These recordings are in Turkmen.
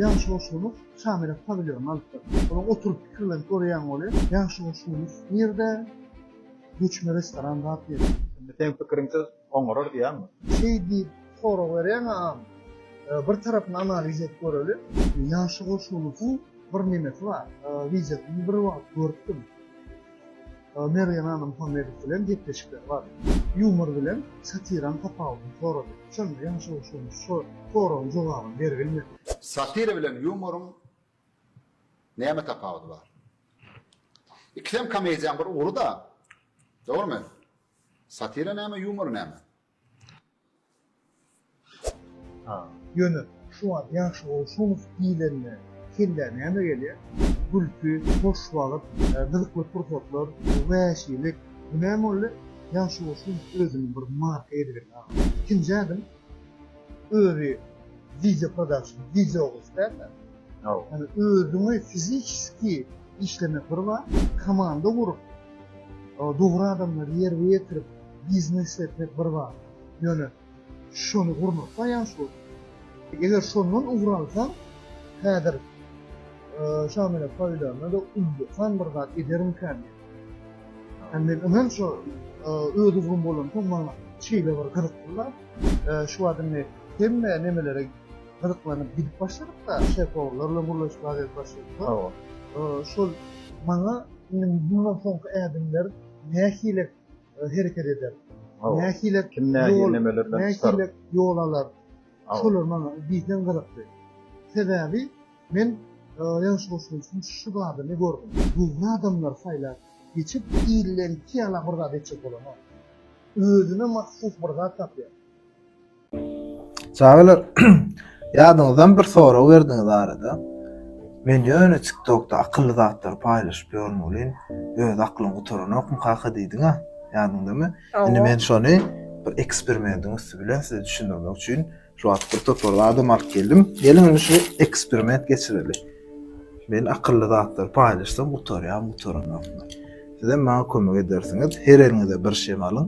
Ýagşy Goşunow Şamyrat pawilýonyny alypdyr. Onuň oturyp pikirlenip görýän goly Ýagşy Goşunow nirde? Göçme restoran zat ýeri. Indi seň pikiriňsiz oňarar diýýäňmi? Şeý diýip sorag berýäňä-am. Bir tarapyny analiz edip göreli. Ýagşy Goşunowyň bir nemesi bar. Wideosyny bir wagt görüpdim. Mergen Ana Muhammedow bilen gepleşikleri bar. Ýumor bilen satiraň tapawudyny sorady. Şonda Ýaş Ogşunow şo soragyň jogabyny berbilmedi. Satira bilen ýumoryň näme tapawudy bar? Ikisem komediýaň bir ugry-da, dogrymy? Satira näme, ýumor näme? Ýöne şu wagt ýagşy bolşunow diýlende kellä näme gelýär? Gülki, hoş wagt, gyzykly pursatlar, wäşilik, bu näme boldy? Ýagşy bolşunow özüni bir marka edibelli agam. Ikinji ädim özi wideo production, wideo gysga. Ýani özüňi fiziçeski işlemek bir zat, komanda gurup, dogry adamlary ýerbe ýetirip biznes etmek bir zat. Ýöne şony gurnaklaýan şol. Eger şondan ugur alsaň, häzir Şamile Paýlana-da ullakan bir zat edermikän diýip. Ýani men ynam şo öz ugrum bolansoň maňa şeýle bir gyzykly zat. Şu wagt indi hemme nemelere gyzyklanyp gidip başladyk-da, şefologlarla gürleşip az gezek başladyk-da. Hawa. Şol maňa indi mundan soňky ädimler nähili hereket eder? Hawa. Nähili kim nähili nemeler bilen çykar? Nähili ýol alar? Şolar maňa diýseň gyzykdy. Sebäbi men ýaňyş goşulyşym şu badyny gördüm. Dürli adamlar saýlap geçip, ilden iki ýala bir zat etjek bolanok. Özüne mahsus bir zat tapýar. Çagalar, ýadyňyzdan bir sorag berdiňiz arada. Men ýöne TikTokda akylly zatlary paýlaşyp ýörün welin, öz aklyň gutaranokmy kaka diýdiň-ä, ýadyňdamy? Indi men şony bir eksperimentiň üsti bilen size düşündirmek üçin şu wagt bir topar zadam alyp geldim. Geliň indi şu eksperiment geçireli. Men akylly zatlary paýlaşsam gutarýarmy, gutaranokmy? Sizem maňa kömek edersiňiz. Her eliňize bir şem alyň.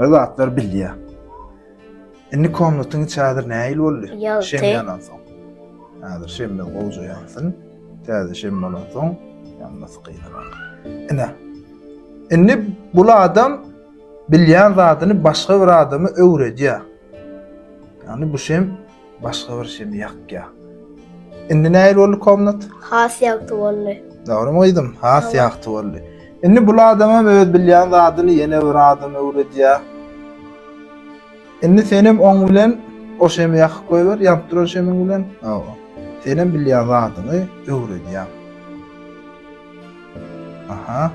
Bir zatlar bilýär. Indi komnatyň içi häzir nähili boldy? Ýagty. Şem ýanan soň. Häzir şemme gowja ýansyn. Täze şem bolan soň ýanmasy gynarak. Ine. Indi bul adam bilýän zadyny başga bir adama öwredýär. Ýagny bu şem başga bir şemi ýakýar. Indi nähili boldy komnat? Has ýagty boldy. Dogrymy gyzym? Has ýagty boldy. Indi bul adamam öz bilýän zadyny ýene bir adama öwredýär. Indi senem oň bilen o şemi ýakyp goýber, ýanyp duran şemiň bilen. Hawa. Senem bilýän zadyňy öwredýäň. Aha.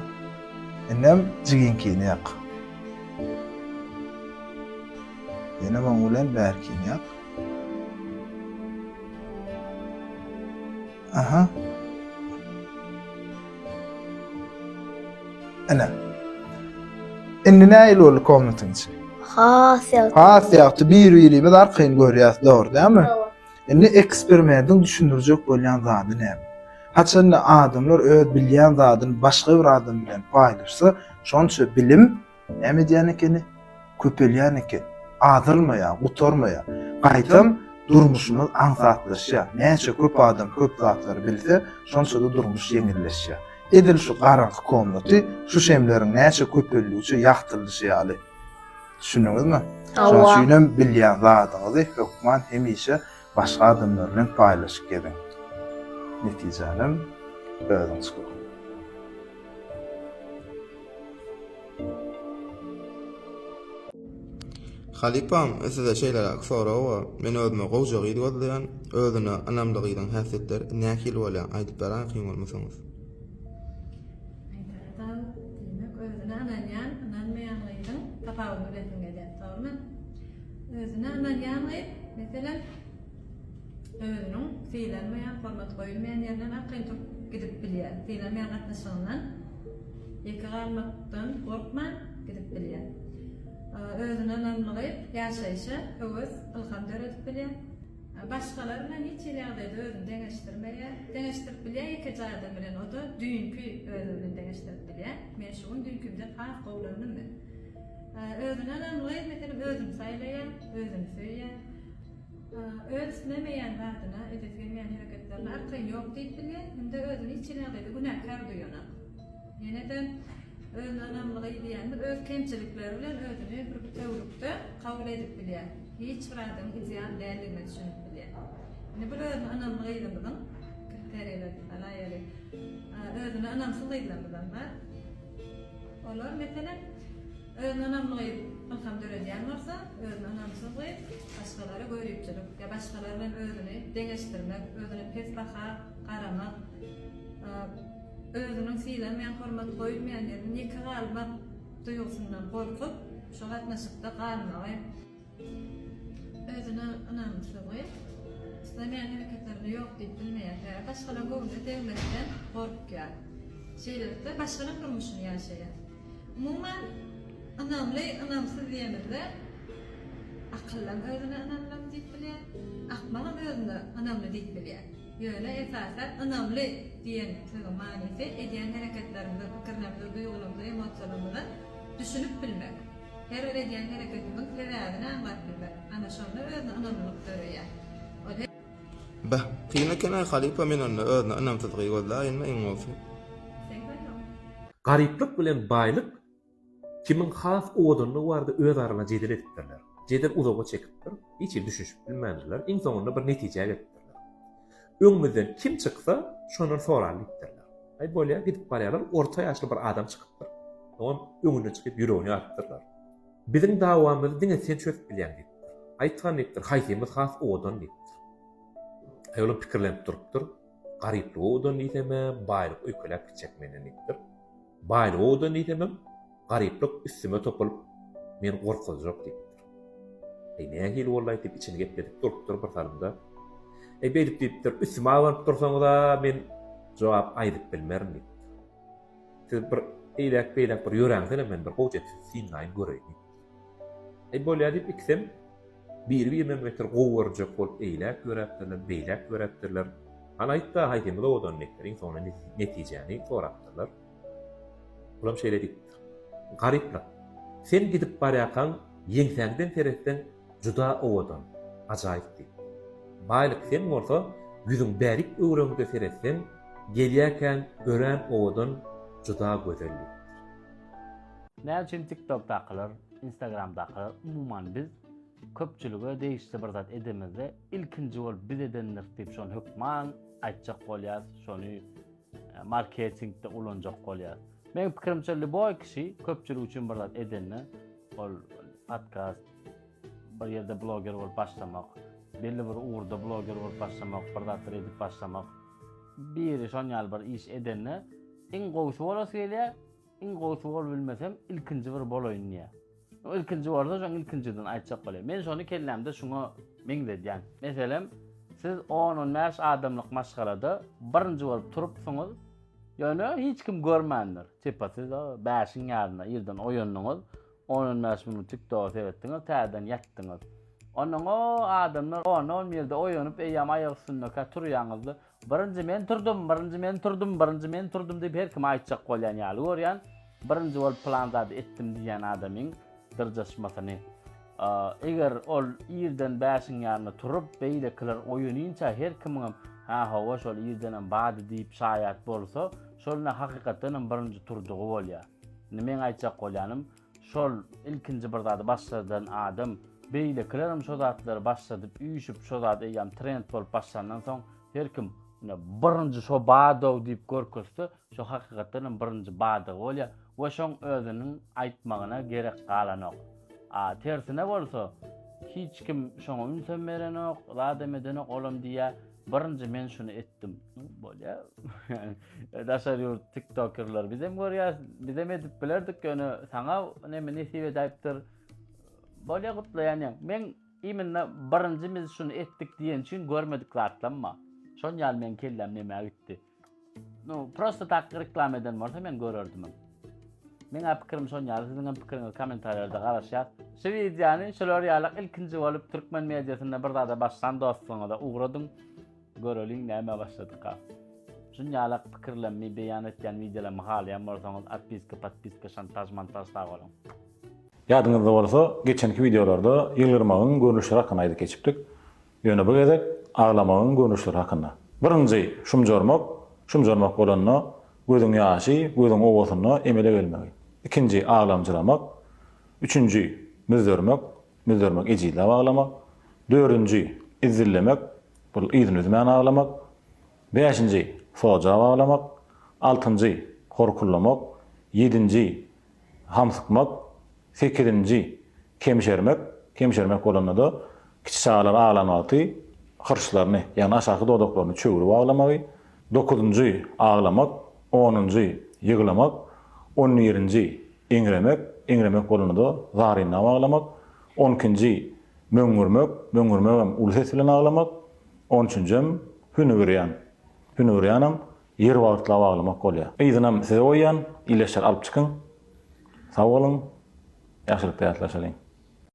Indem jigiňkini ýak. Ýene muň bilen bärkin ýak. Aha. Ene. Indi näil boldy komnatyň içi? Has ýagty. Has ýagty bir-birimiz arkaýyn görýäs, dogry dämi? Indi eksperimentiň düşündirjek bolýan zady näme? Haçanda adamlar öz bilýän zadyny başga bir adam bilen paýlaşsa, şonça bilim Näme edýän ekeni? Köpelýän eken. Azalmaýar, gutarmaýar. Gaýtam, durmuşymyz aňsatlaşýar. Näçe köp adam köp zatlary bilse, şonça-da durmuş ýeňilleşýär. Edil şu garaňky komnaty şu şemleriň näçe köpeldigiçe ýagtyldyşy ýaly. Düşündiňizmi? Hawa. Şonuň üçinem bilýän zadyňyzy hökman hemişe Başga adamlar bilen paýlaşyp geziň. Netijänem özüň çykyp. Halypam, size şeýleräk sorag bar. Men özüme gowja gyz gözleýän. Özüne ynamly gyzyň häsiýetleri nähili bolýar? Aýdyp beräýseň bolmasaňyz. Özüne ynanýan, ynanmaýan gyzyň tapawudyny bilesiň gelýär. Dogrymy? Özüne ynanýan gyz, meselem, özüniň sylanmaýan, hormat goýulmaýan ýerinden arkaýyn turup gidip bilýär. Sylanmaýan gatnaşygyndan ýeke galmakdan gorkman gidip bilýär. Özüne ynanmaly ýaşaýşa höwes, ylham döredip bilýär. Başgalar bilen hiç hili ýagdaýda özüni deňeşdirmeýär. Deňeşdirip bilýär ýekeje adam bilen, o-da düýnki özi bilen deňeşdirip bilýär. Men şu gün düýnkimden has gowulandym men. Özüne ynamly, meselem, özüni saýlaýar, özüni söýýär. Öz islemeýän zadyna, edesi gelmeýän hereketlerine arkaýyn ýok diýip bilýär hem-de özüni hiç hili ýagdaýda günäkär duýanok. Ýene-de özüne ynamlylygy diýýänimiz öz kemçilikleri bilen özüni bir bütewülikde kabul edip bilýär. Hiç bir adam ideal däldigine düşünip bilýär. Indi bir özüne ynamly gyzymyzyň kriteriýleri, alaýaly, özüne ynamsyz gyzlarymyzam bar. Olar, meselem, özüne ynamly gyz ylham döredýän bolsa, özüne ynamsyz gyz başgalara göýrüpçilik ýa başgalar bilen özüni deňeşdirmek, özüne pes baha garamak, özüniň sylanmaýan, hormat goýulmaýan ýerinde ýeke galmak duýgusyndan gorkup, şo gatnaşykda galmagy, Özüne ynamsyzlygy, islemeýän hereketlerine ýok diýip bilmeýärkä, başgalaryň göwnüne degmekden gorkýar. Şeýlelikde, başgalaryň durmuşyny ýaşaýar. Umuman, ynamly, ynamsyz diýemizde, akyllym özüne ynamlym diýip bilýär, akmagam özüne ynamly diýip bilýär. Ýöne, esasan, ynamly diýen sözüň manysy edýän hereketleriňize, pikirleriňize, duýgularyňyza, emosiýalaryňyza düşünip bilmek. Her bir edýän hereketimiň sebäbini aňlap bilmek, ana şonda özüne ynamlylyk döreýär. Ol her. Beh, kyn eken-aý halypa men onda özüne ynamsyzlygy gözläýinmi iň bolsa. Garyplyk bilen baýlyk kimiň has owadanlygy barada öz arana jedel edipdirler. Jedel uzaga çekipdir, hiç hili düşünişip bilmändirler, iň soňunda bir netijä gelipdirler. Öňümizden kim çyksa, şondan soraly diýipdirler. Aý bolýar, gidip barýarlar, orta ýaşly bir adam çykypdyr. Oňam öňüne çykyp ýüregini ýarypdyrlar. Biziň dawamyzy diňe sen çözüp bilýäň diýipdir. Aýtgyn diýipdir, haýsymyz has owadan diýipdir. Aýolam pikirlenip durupdyr. Garyplyk owadan diýsem-ä, baýlyk öýkeläp gitjek menden diýipdir. Baýlygy owadan diýsemem, garyplyk üstüme topulyp, meni gorkuzjak diýipdir. Äý, nähili bolaý diýip, içini gepledip durupdyr bir salymda. Äý, beýdip diýipdir, üstüme abanyp dursaňyz-a, men jogap aýdyp bilmerin diýipdir. Siz bir eýläk-beýläk bir ýöräňizem, men bir gowja etsin synlaýyn göreýin diýipdir. Eý bolýa diýip ikisem biri-birine beter gowy görünjek bolup eýläk ýöräpdirler, beýläk ýöräpdirler. Hany aýt-da haýsymyz owadan neperiň soňuna netijäni sorapdyrlar. Olam şeýle diýipdir. Garyplyk, sen gidip barýarkaň ýeňsäňden seretseň juda owadan, ajaýyp diýip. Baýlyk, sen bolsa ýüzüň bärik öwrüňde seretseň gelýärkäň örän owadan, juda gözel diýipdir. Näme üçin TikTokdakylar, Instagramdakylar, umuman biz köpçülige degişli bir zat edemizde ilkinji bolup biz edendiris diýip şony hökman aýtjak bolýar, şony e, marketingde ulanjak bolýar. Meň pikirimçe lýuboý kişi köpçülik üçin bir zat edende ol podkast bir ýerde bloger bolup başlamak, belli bir ugurda bloger bolup başlamak, bir zatlar edip başlamak, biri şon ýaly bir iş edende iň gowusy bolasy gelýär, Iň gowusy bolup bilmesem, ilkinji bir bolaýyn diýýär. O ilkinji bolsa, şoň ilkinjiden aýtjak bolýar. Men şony kellämde şuňa meňzedýän. Meselem, siz on-on bäş adamlyk maşgalada birinji bolup turupsyňyz, ýöne hiç kim görmändir. Tipa siz bäşiň ýarynda irden oýandyňyz, on-on bäş minut TikTok-a seretdiňiz, täzeden ýatdyňyz. Onnoň o adamlar on-on birde oýanyp, eýýäm aýak üstündekä turýaňyzda, Birinji men turdum, birinji men turdum, birinji men turdum diýip her kim aýtjak bolýan ýaly görýän. Birinji bolup plan zady etdim diýýän adamyň dyrjaşmasyny. Eger ol irden bäşiň ýanynda turup, beýlekiler oýanynça her kimiňem ha hawa şol irdenem bady diýip şaýat bolsa, şol ine hakykatdanam birinji turdugy bolýar. Indi meň aýtjak bolýanym, Şol ilkinji bir zady başardan adam, beýlekilerem şo zatlary başardyp, üýşüp, şo zat eýýäm trend bolup başlandan soň, her kim, ine, birinji şo bar-ow diýip görkezse, şo hakykatdan hem birinji bardygy bolýar we şoň özüniň aýtmagyna gerek galanok. A tersine bolsa, hiç kim şoňa ünsem berenok, zadam edenok, olam diýýär, Birinji men şuny etdim. Bolýa. Daşary ýurt tiktokerler bizem görýäs, bizem edip bilerdik, ýöne saňa näme nesip edäýipdir. Bolýa gutlaýan ýa. Men iminna birinji biz şuny etdik diýen üçin görmedik zatlamma. Şon ýaly men kellem näme gitdi. No, prosta tak reklama eden bolsa men görerdim. Meň pikirim şon ýaly, siziň hem pikiriňizi kommentariýalarda garaşýas. Şu wideony şular ýaly ilkinji bolup türkmen mediasynda bir zada başlan dostlaryňyza ugradyň. Göreliň näme başladyka. Şun ýaly pikirlerimi beýan etýän wideolarmy halaýan bolsaňyz atpiska, podpiska, şantaj, montaj sag boluň. Ýadyňyzda bolsa geçenki wideolarda ýylgyrmagyň görnüşleri hakynda aýdyp geçipdik. Ýöne bu gezek aglamagyň görnüşleri hakynda. Birinji, şumjarmak, şumjarmak bolanda, gözüň ýaşy, gözüň owasynda emele gelmegi. Ikinji, aglamjyramak. Üçünji, müzzermek, müzzermek ejizläp aglamak. Dördünji, izzillemek, bul yzyny üzmän aglamak. Bäşinji, soja baglamak, altynjy, horkullamak, ýedinji, hamsykmak, sekizinji, kemşermek, kemşermek bolanda-da kiçi çagalar aglan wagty hyrçlaryny, ýagny aşaky dodaklaryny çöwri baglamagy, dokuzynjy, aglamak, onunjy, ýyglamak, on birinji, eňremek, eňremek bolanda-da zaryna baglamak, on ikinji, möňňürmek, möňňürmegem uly ses bilen aglamak, On üçünjem hünüwürýan. Hünüwürýanam ýer wagtlap aglamak bolýa. Yzynam size goýýan, ileşer alyp çykyň. Sag boluň, ýagşylykda ýatlaşalyň.